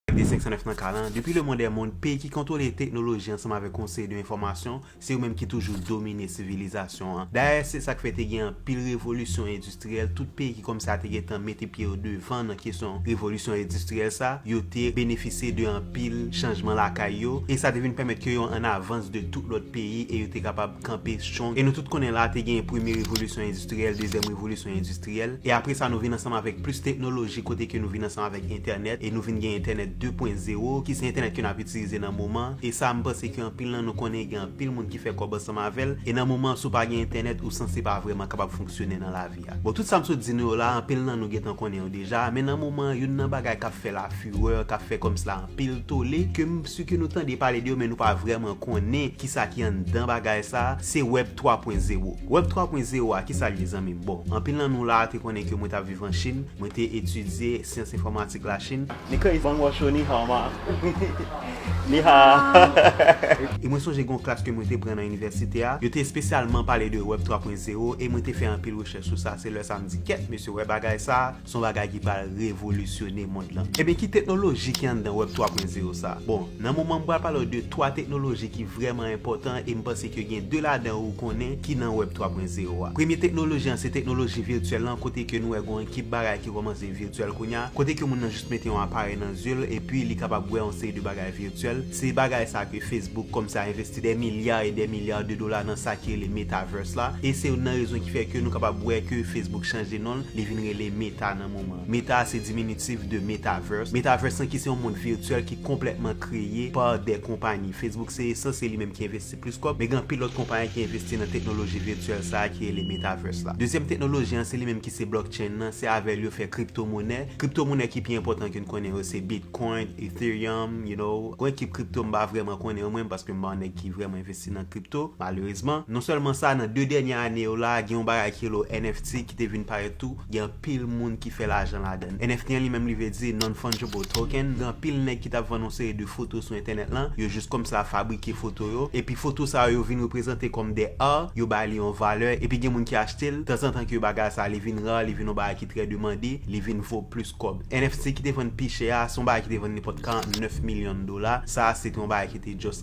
Pati 509 nan ka lan, Depi lemond è mond, peyi ki kontwole teknoloji ansanm avèk yon seri de enfòmasyon, se yo menm ki toujou domine sivilizasyon an. Dayè, se sa k fè te gen anpil revolisyon endistriyèl, tout peyi ki kòmanse a te gen tan mete pye yo devan nan kesyon revolisyon endistriyèl sa, yo te benefisye de anpil chanjman lakay yo, e sa te vin pèmèt ke yo an avans de tout lòt peyi e yo te kapab kanpe strong. E nou tout konnen la, te gen premye revolisyon endistriyèl, dezyèm revolisyon endistriyèl. endistryèl e apre sa nou vin ansanm avèk plis teknoloji kote ke nou vin ansanm avèk entènèt e nou vin gen entènèt 2 pwen zewo ki se entènèt ke nap itilize nan moman an e sa m panse ke anpil nan nou konnen gen anpil moun ki fè kòb ansanm avèl e nan moman an si w pa gen entènèt ou sanse pa vrèman kapab fonksyone nan lavi a bon tout sa m sot di nou yo la anpil nan nou gentan konnen yo deja men nan moman an youn nan bagay kap fè la furè kap fè kòm si la anpil tole ke m si ke nou tande pale de yo men nou pa vrèman konnen kisa ki anndan bagay sa se wèb 3 pwen zewo Web 3 pwen zewo a kisa l ye zanmi m? Bon, anpil nan nou la a te konnen ke mwen t ap viv an Chin, mwen te etidye syans enfòmatik la Chin, Ni kèy bang wò cho ni hao ma Ni ha a. E mwen sonje gen yon klas ke mwen te pran nan inivèsite a, yo te espesyalman pale de Web 3 pwen zewo e mwen te fè anpil rechèch sou sa, se lè sa a m di kèt mesye wè bagay sa a, Son bagay ki pral revolisyone mond lan. Ebyen ki teknoloji ki anndan web 3 pwen zero sa? Bon, nan moman m pral pale w de 3 teknoloji ki vrèman enpòtan e m panse ke gen 2 ladan ou konnen ki nan web 3 pwen zero a. Premye teknoloji an se teknoloji virtyèl lan kote ke nou wè gon ekip bagay ki kòmanse virtyèl kounya, kote ke moun nan jis mete yon aparèy nan zye l epi li kapab wè yon seri de bagay virtyèl. Se bagay sa ke Facebook kòmnse a envesti dè milya e dè milya de dola nan sa ki rele Metaverse la e se youn nan rezon ki fè ke nou kapab wè ke Facebook chanje non l Li vin rele Meta nan moman an. Meta a se diminitif de Metaverse. Metaverse lan ki se yon mond virtyèl ki konplètman kreye pa de konpayi. Facebook se esans se li menm ki envesti plis kòb, men gen anpil lòt konpayi ki envesti nan teknoloji virtyèl sa a ki rele Metaverse la. Dezyèm teknoloji an se li menm ki se Blockchain lan, se avè l yo fè kriptomonè. Kriptomonè ki pi enpòtan ke n konnen yo se Bitcoin, Ethereum, you know. Yon ekip kripto m pa vrèman konnen yo menm paske m pa yon nèg ki vrèman envesti nan kripto, malerezman. Non sèlman sa, nan 2 dènye ane yo la a, gen yon bagay ki rele NFT. Ti ki te vin parèt tou, gen anpil moun ki fè lajan ladan l. NFT an li menm li vle di Non-Fungible Token. Gen anpil nèg ki t ap vann yon seri de foto sou entènèt lan, yo jis kòmsa fabrike foto yo, epi foto sa yo yo vin reprezante kòm des art, yo ba li yon valè, epi gen moun ki achte l, tanzantan ke bagay sa li vin rare, li vin yon bagay ki trè demande, li vin vo plis kòb. NFT ki te vann pi chè a, se yon bagay ki te vann nenpòt 49 milyon dola, sa se te yon bagay ki te just.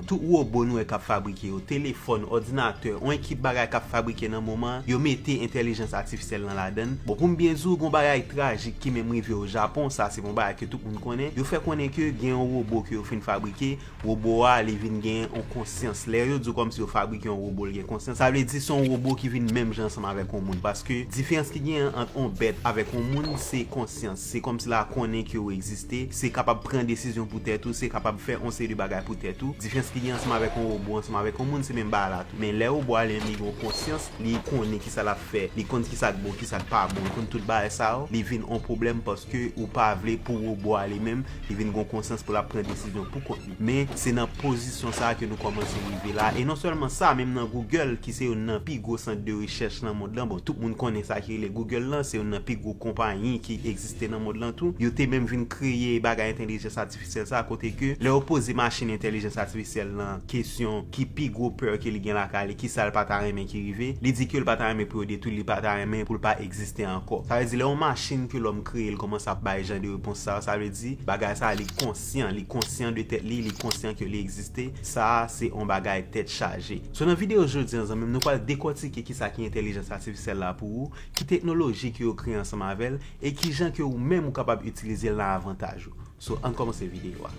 Tout wobo nou wè k ap fabrike yo, telefòn, òdinatè, on ekip bagay k ap fabrike nan moman an, yo mete entèlijans atifisyèl lan ladann. Bon, pou m byen di w, gen on bagay trajik ki menm rive o Japon, sa se bon bagay ke tout moun konnen, yo fè konnen ke gen on wobo ke yo fin fabrike, wobo a li vin gen on konsyans. Lè yo di w kòmsi yo fabrike on wobo li gen konsyans, sa vle di se on wobo ki vin menm jan ansanm avèk on moun, paske diferans ki genyen ant on bèt avèk on moun se konsyans. Se kòmsi la konnen ke ou egziste, se kapab pran desizyon pou tèt ou, se kapab fè yon seri de bagay pou tèt ou. Diferans ki gen ansanm avèk yon wobo, ansanm avèk yon moun, se menm bagay la tou. Men lè wobo a li menm li gen yon konsyans, li konnen kisa lap fè, li konn kisa k bon, kisa k pa bon, li konn tout bagay sa yo, li vin yon pwoblèm paske ou pa vle pou wobo a li menm, li vin gen yon konsyans pou lap pran desizyon pou kont li. Men, se nan pozisyon sa a ke nou kòmanse rive la a. E non sèlman sa, menm nan Google, ki se youn nan pi gwo sant de rechèch nan mond lan, bon, tout moun konnen sa ki rele Google lan, se youn nan pi gwo konpayi ki egziste nan mond lan tou, yo te menm vin kreye bagay entèlijans atifisyèl sa a, kote ke lè yo poze machin entèlijans atifisyèl lan kesyon ki pi gwo peur ke li gen lakay li, ki sa l pa ta renmen ki rive, li di ke l pa ta renmen pou yo detwi l, li pa ta renmen pou l pa egziste ankò. Sa vle di lè yon machin ke lòm kreye l kòmanse ap bay jan de repons sa yo, sa vle di bagay sa a li. konsyan, li konsyan de tèt li, li konsyan ke li egziste, sa a se on bagay tèt chaje. So nan video jodi an zanmi m nou pral dekòtike kisa ki entèlijans atifisyèl la pou ou, ki teknoloji ke yo kreye ansanm avè l, e kijan ke ou menm ou kapab itilize l nan avantaj ou. So ann kòmanse video a.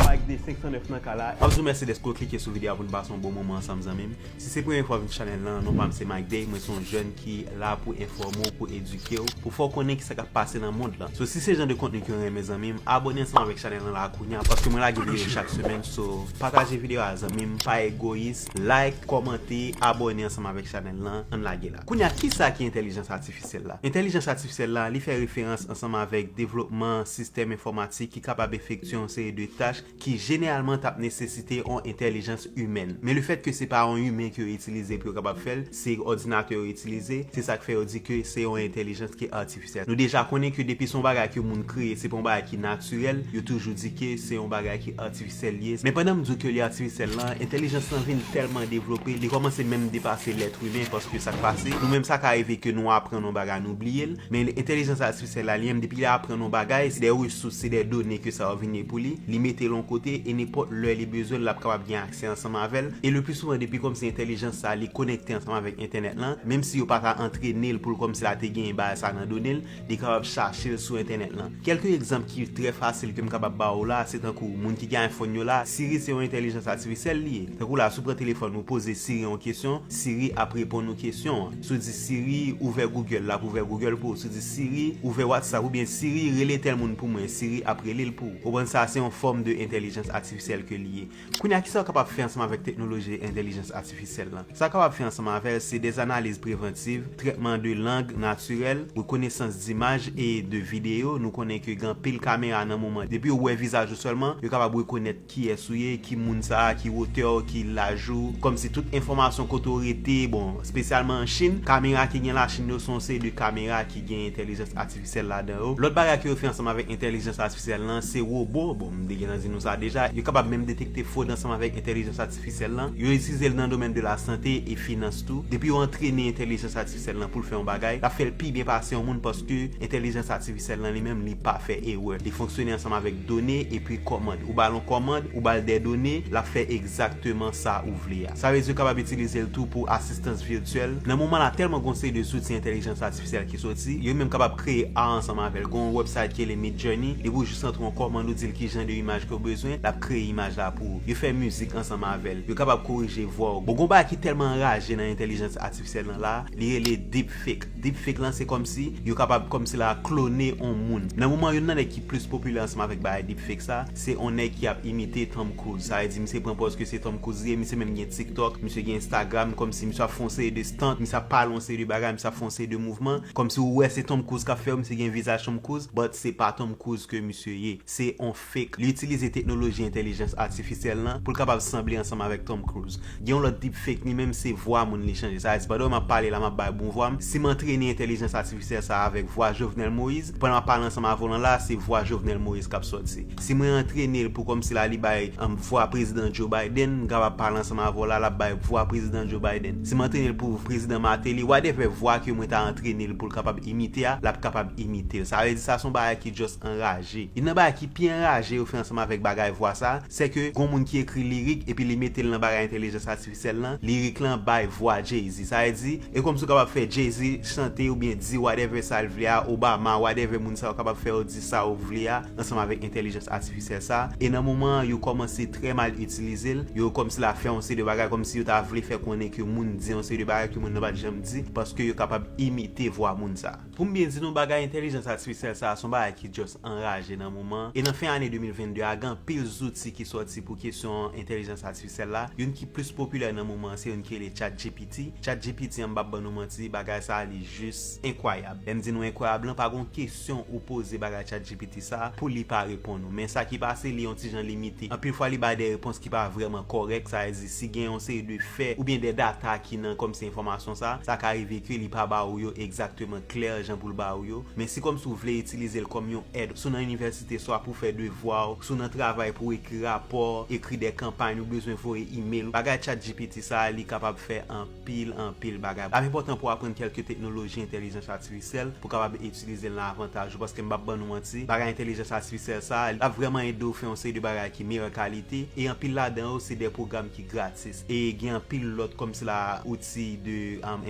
Mike de 509 nan kay la. Map di w mèsi dèske w klike sou video a pou n pase yon bon moman ansanm zanmi m. Si se premye fwa w vin chanèl lan, non pa m se Micday, mwen se yon jèn ki la pou enfòme w, pou edike w, pou fè w konnen kisa k ap pase nan mond lan. So si se jan de kontni ke w renmen zanmi m, abone ansanm avèk chanèl lan la kounya paske mwen lage videyo chak semèn so pataje videyo a zanmi m, pa egoyis, like, kòmante, abone ansanm avèk chanèl lan, ann lage la. Kounya kisa ki entèlijans atifisyèl la? Entèlijans atifisyèl la, li fè referans ansanm avèk devlopman sistèm enfòmatik ki kapab efektye yon seri de tach ki jeneralman t ap nesesite on entèlijans imèn. Men lefèt ke se pa on imen ke yo itilize pou yo kapab fè l, se òdinatè yo itilize, se sa k fè yo di ke se on entèlijans ki atifisyèl. Nou deja konnen ke depi se on bagay ke moun kreye, se pa on bagay ki natirèl, yo toujou di ke se on bagay ki atifisyèl li ye. Men pandan m di w ke li atifisyèl la, entèlijans lan vin tèlman devlope, li kòmanse menm depase lèt imen, paske sa k pase, nou menm sa ka rive ke nou aprann on bagay nou bliye l, men entèlijans Sè Lalie menm depi li aprann yon bagay, se de resous, se de done ke sa yo vin ye pou li, li mete l yon kote e nenpòt lè li bezwen l l ap kapab gen aksè ansanm avè l e leplisouvan depi kòmsi entèlijans sa a li konekte ansanm avèk entènèt lan, menm si yo pa ta antrene l pou l kòmsi la te genyen bagay sa a nan done l, li kapab chache l sou entènèt lan. Kèlke egzanp ki trè fasil ke m kapab ba ou la a se tankou moun ki gen iPhone yo la a, Siri se yon entèlijans atifisyèl li ye. Tankou la a si w pran telefòn ou poze Siri yon kesyon, Siri ap reponn ou kesyon an. Sou di Siri, ouvè Google, l ap ouvè Google pou ou. Sou di Siri, ouvè WhatsApp oubyen Siri, rele tèl moun pou mwen, Siri ap rele l pou ou. Ou konprann sa a? Se yon fòm de entèlijans atifisyèl ke li ye. Kounye a, kisa ou kapab fè ansanm avèk teknoloji entèlijans atifisyèl lan? Sa ou kapab fè ansanm avè l, se dè analiz prevantiv, trètman de lang natirèl, rekonesans dimaj e de videyo. Nou konnen ke gen anpil kamera nan moman, depi yo wè vizaj ou sèlman, yo kapab rekonèt. Kiyès ou ye, ki moun sa, ki wotè w, ki laj ou, kòmsi tout enfòmasyon kote w rete, bon, spesyalman an Chinn, kamera ki gen la Chinn yo se yon seri de kamera ki gen entèlijans atifisyèl ladan yo. Lòt bagay ke yo fè ansanm avèk entèlijans atifisyèl lan se wobo, bon m te gentan di nou sa deja, yo kapab menm detekte fwod ansanm avèk entèlijans atifisyèl lan, yo itilize l nan domèn de lasante e finans tou, depi yo antrene entèlijans atifisyèl. Sèl lan poul fè yon bagay lap fèl pi byen pase yon moun paske entèlijans atifisyèl lan li menm li pa fè erè li fonksyone ansanm avèk done epi kòmand ou bal yon kòmand ou bal dè done lap fè egzakteman sa ou vle a sa vle di ou kapab itilizel tou pou asistans virtyèl nan moman la tèlman gon seri de zouti entèlijans atifisyèl ki soti yo menm kapab kreye ar ansanm avèl gon yon wèbsayt ki rele midjourney depi ou jis rantre yon kòmand ou dil kijan de imaj kew bezwen lap kreye imaj la pou ou yo fè mizik ansanm avèl yo kapab korije vwaw bon gon bagay ki tèlman anraje nan entèlijans Sè nan la, li rele deepfake. Deepfake lan se kòmsi yo kapab kòmsi la klone on moun. Nan moman youn nan nèg ki plis popilè ansanm avèk bagay deepfake sa, se on nèg ki ap imite Tom Cruise. Sa vle di misye pran pòz ke se Tom Cruise li ye, misye menm gen TikTok, misye gen Instagram, kòmsi misye ap fè on seri de stunt, misye ap pale on seri de bagay, misye ap fè on seri de mouvman, kòmsi ou wè se Tom Cruise kap fè yo, misye gen vizaj Tom Cruise, but se pa Tom Cruise ke misye ye. Se on. deepfake, li itilize teknoloji entèlijans atifisyèl lan pou l kapab sanble ansanm avèk Tom Cruise. Gen yon lòt deepfake, li menm se vwa moun li chanje. Sa vle di pandan m ap pale la, m ap bay bon vwa m, si m antrene entèlijans atifisyèl sa a avèk vwa Jovenel Moïse, pandan m ap pale ansanm avè w lan la a, se vwa Jovenel Moïse k ap sòti. Si mwen antrene l pou kòmsi la li bay vwa Prezidan Joe Biden, m kapab pale ansanm avè w la, l ap bay vwa Prezidan Joe Biden. Si m antrene l pou Prezidan Martelly, whatever vwa ke mwen ta antrene l pou l kapab imite a, l ap kapab imite l. Sa vle di sa se yon bagay ki just anraje. Youn nan bagay ki pi anraje yo fè ansanm avèk bagay vwa sa, sè ke gon moun ki ekri lirik epi li mete l nan bagay entelijans atifisyèl lan, lirik lan bay vwa Jay-Z. Sa vle di, e kòmsi w kapab fè Jay-Z chante oubyen di whatever sa l vle a, Obama, whatever moun sa yo kapab fè yo di sa yo vle a ansanm avèk entelijans atifisyèl sa, e nan moman an yo kòmanse trè mal itilize l, yo kòmsi la fè yon seri de bagay, kòmsi yo ta vle fè konnen ke moun di yon seri de bagay ke moun nan pa t janm di, paske yo kapab imite vwa moun sa. Pou m byen di nou bagay entèlijans atifisyèl sa a s on bagay ki just anraje nan moman an e nan fen ane 2022 a gen anpil zouti ki sòti pou kesyon entèlijans atifisyèl la, youn ki plis popilè nan moman an se youn ki rele chatgpt, chatgpt an m p ap ban nou manti bagay sa a li jis enkwayab, lè m di nou enkwayab lan pa gen yon kesyon ou poze bagay chatgpt sa a pou li pa reponn ou men sa ki pase li yon ti jan limite anpil fwa li bay de repons ki pa vrèman kòrèk sa vle di Si gen yon seri de fè oubyen de data ki nan kòmsi enfòmasyon sa, sa ka rive ke li pa ba ou yo egzakteman klè jan pou l ba ou yo, men si kòmsi ou vle itilize l kòm yon èd si w nan inivèsite swa pou fè devwa w, si w nan travay pou ekri rapò, ekri de kanpay nou bezwen voye email, bagay chatgpt sa li kapab fè an. pil anpil bagay. Lap enpòtan pou aprann kèlke teknoloji entèlijans atifisyèl pou kapab itilize l nan avantaj ou paske m pap ban nou manti bagay entèlijans atifisyèl sa a lap vrèman ede w fè yon seri de bagay ki meyè kalite e anpil ladan yo se de pwogram ki gratis e gen anpil lòt kòm sila outi de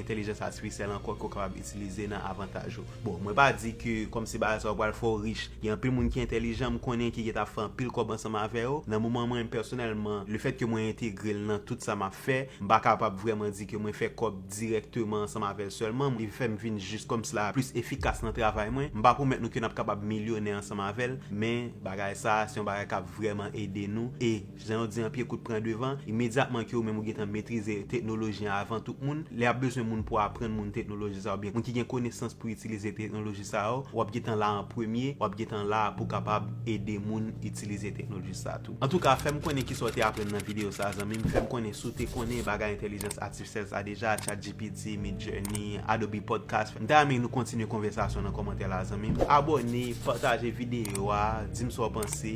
entèlijans atifisyèl ankò ke w kapab itilize nan avantaj ou. Bon mwen pa di ke kòm se bagay sa ou pral fè ou rich, gen anpil moun ki entèlijan m konnen ki gentan ap fè anpil kòb ansanm avè yo, nan moman mwen pèsonèlman le fèt ke mwen entegre l nan tout sa map fè, m pa kapab vrèman di ke mwen fè kòb dirèkteman ansanm avè l sèlman, li fè m vin jis kòm si la plis efikas nan travay mwen, m pa pwomèt nou ke nap kapab milyonè ansanm avè l, men bagay sa se yon bagay kap vrèman ede nou e. Jan yo di an pye kout pran devan, imedyatman ke ou menm ou gentan metrize teknoloji an avan tout moun, lè y ap bezwen moun pou aprann moun teknoloji sa a oubyen moun ki gen konesans pou itilize teknoloji sa yo, w ap gentan la an premye, w ap gentan la pou w kapab ede moun itilize teknoloji sa a tou. Antouka, fè m konnen ki sa w te aprann nan videyo sa a zanmi m, fè m konnen si w te konnen bagay entèlijans atifisyèl sa a deja, ChatGPT, Midjourney, Adobe Podcast. M ta renmen nou kontinye konvèsasyon nan kòmantè la zanmi m. Abòne, pataje videyo a, di m sa w panse.